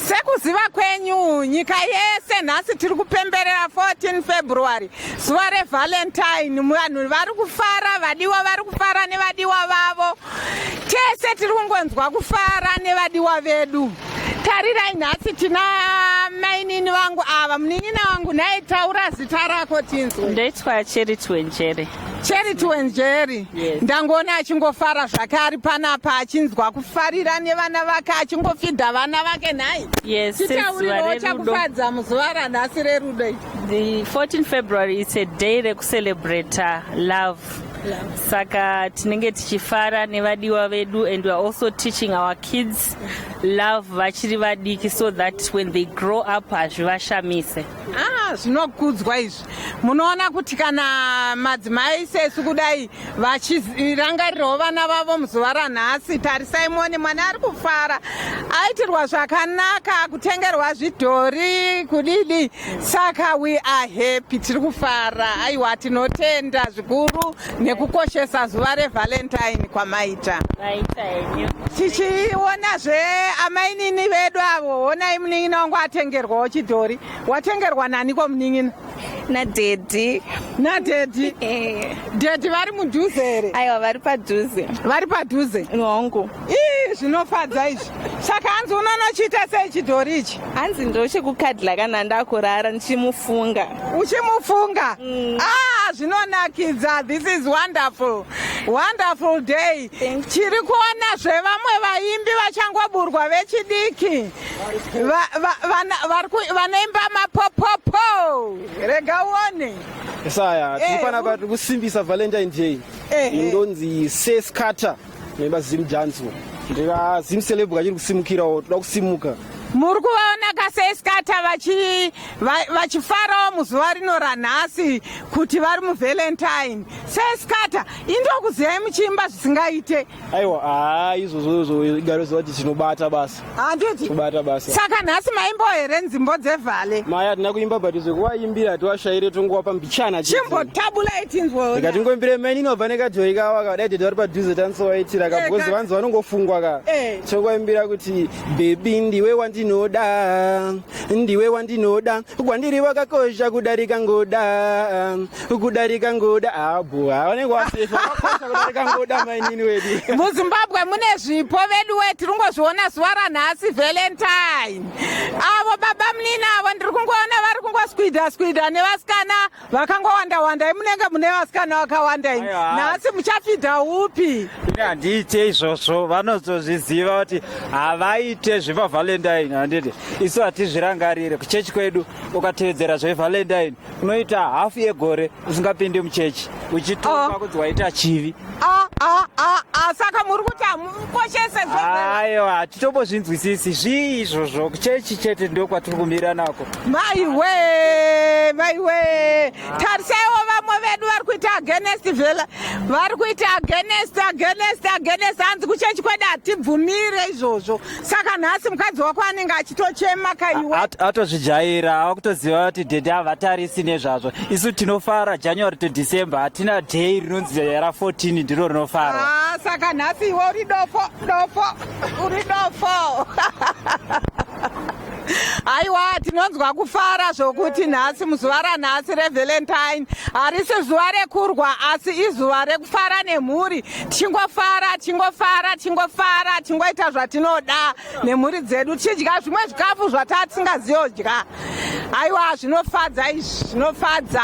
sekuziva kwenyu nyika yese nhasi tiri kupemberera 14 february zuva revalentine vanhu vari kufara vadiwa vari kufara nevadiwa vavo tese tiri kungonzwa kufara nevadiwa vedu tarirai nhasi tina mainini vangu ava munin'ina wangu nhai taura zita rako tinzwe ndoitwa cheri twenjere Cheri tuwenjeri yes. Ndangoona achingofara zvake ari panapa achinzwa kufarira nevana vake achingofidha vana vake nhai yes, chitauriro chakufadza muzuva ranhasi rerudo the 14 February it's a day rekucelebrate love saka tinenge tichifara nevadiwa vedu and weare also teaching our kids love vachiri vadiki so that when they grow up hazvivashamise ah, zvinokudzwa izvi munoona kuti kana madzimai sesu kudai vachirangarirawo vana vavo muzuva ranhasi tarisai mone mwana ari kufara aitirwa zvakanaka kutengerwa zvidhori kudidi saka we are happy tiri kufara aiwa tinotenda zvikuru nekukoshesa zuva revalentine kwamaita tichiona zve amainini vedu avo honai munin'ina wangu atengerwawo chidhori watengerwa naniko munin'ina nadhedhi nadhedhi eh. dhedhi vari mudhuze here aiwa vari padhuze vari padhuze hongu ii zvinofadza izvi saka hanzi unonochiita sei chidhori ichi hanzi ndochekukadla kana ndakurara ndichimufunga uchimufunga mm. ah zvinonakidza this is wonderful wonderful day chiri kuona zvevamwe vaimbi vachangoburwa vechidiki vanoimba mapopopo rega uone saya eh, tinofanira kuva tiri kusimbisa valentine day eh, eh. indonzi sescater noimba zim janso ndira zim celeb kachiri kusimukirawo toda kusimuka muri kuvaona kaseskata vachifarawo muzuva rino ranhasi kuti vari muvalentine seskata indokuziyai muchiimba zvisingaite aiwa haa izvozvozvo igaro ziva kuti tinobata basa handiti tobata basa saka nhasi maimbo here nzimbo dzevhale maya hatina kuimba but zvekuwaimbira hatiwashaire tongowapa mbichana chimbotabulai tinzwa ika tingoimbire maini inobva nekadhoi kawa kavadai tete vari padhuze tanisowaitira ka eh, because vanzi vanongofungwa ka eh. tokuwaimbira kuti bebi ndiwe wandinoda ndiwe wandinoda kwandiri wakakosha kudarika ngoda kudarika ngoda abho vanenge wasefa vakakosha kudarika ngoda mainini wedu muzimbabwe mune zvipo vedu we tiri kungozviona zuva ranhasi valentine avo baba munini avo ndiri kungoona vari kungoskwidha skwidha nevasikana vakangowanda wanda imunenge mune vasikana vakawanda ini nhasi muchafidha upi ini handiite izvozvo vanozozviziva kuti havaite zvepavalentine handiti isu hatizvirangarire kuchechi kwedu ukatevedzera zvevalentine unoita hafu yegore usingapinde muchechi uchituka ah. kuti waita chivi ah, ah, saka muri kuti hamukoshese aiwa hatitombozvinzwisisi zvii izvozvo kuchechi chete ndo kwatiri kumira nako maiwe maiwe tarisaiwo vamwe vedu vari kuita agenest vela vari kuita agenest agenest agenest hanzi kuchechi kwedu hatibvumire izvozvo saka nhasi mukadzi wako anenge achitochema kaiwe atozvijaira ava kutoziva kuti dhedhe havatarisi nezvazvo isu tinofara january to december hatina day rinonzi ra 14 ndiro rinofarwa ah, saka nhasi iwe uri dofo dofo uri dofo haiwa tinonzwa kufara zvokuti nhasi muzuva ranhasi revalentine harisi zuva rekurwa asi izuva rekufara nemhuri tichingofara tichingofara tichingofara tichingoita zvatinoda nemhuri dzedu tichidya zvimwe zvikafu zvataa tisingaziyodya haiwa zvinofadza izvi zvinofadza